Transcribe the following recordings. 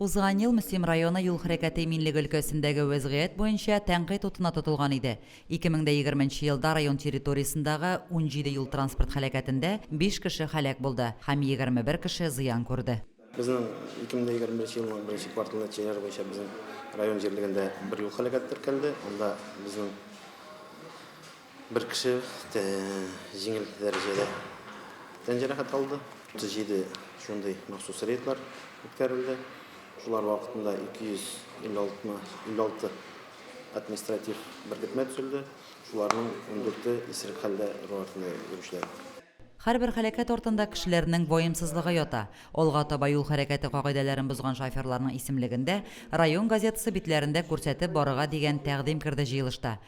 Узган ел Мөслим районы юл хәрәкәте иминлеге өлкәсендәге вәзгыять буенча тәнкыйть утына тотылган иде. Ике мең дә егерме нче елда район территориясендәге унҗиде юл-транспорт һәлакәтендә биш кеше һәлак булды һәм егерме бер кеше зыян күрде. Безнең ике мең дә егерме беренче елның беренче кварталы нәтиҗәләре буенча безнең район җирлегендә бер юл һәлакәте теркәлде, анда безнең Бер кеше җиңел дәрәҗәдә тән җәрәхәт алды. 37 шундый махсус рейдлар үткәрелде. Шулар вакытында 256 административ беркетмә төзелде, шуларның ундүрте исерек хәлдә ру артында йөрүчеләр. Һәрбер һәлакәт артында кешеләрнең ваемсызлыгы ята. Алга таба юл хәрәкәте кагыйдәләрен бозган шоферларның исемлеген дә район газетасы битләрендә күрсәтеп барырга дигән тәкъдим керде җыелышта.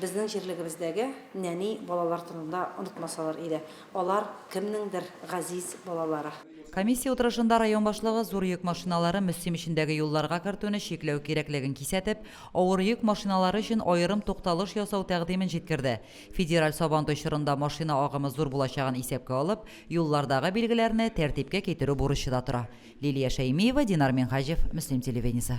Безнең җирлегебездәге нәни балалар турында онытмасалар иде. Алар, кемнеңдер газиз балалары. Комиссия утырышында район башлыгы зур йөк машиналары Мөслим эчендәге юлларга кертүне чикләү кирәклеген кисәтеп, авыр йөк машиналары өчен аерым тукталыш ясау тәкъдимен җиткерде. Федераль Сабантуй чорында машина агымы зур булачагын исәпкә алып, юллардагы билгеләрне тәртипкә китерү бурычы да тора. Лилия Шәймиева, Динар Минһаҗев, Мөслим телевидениесе.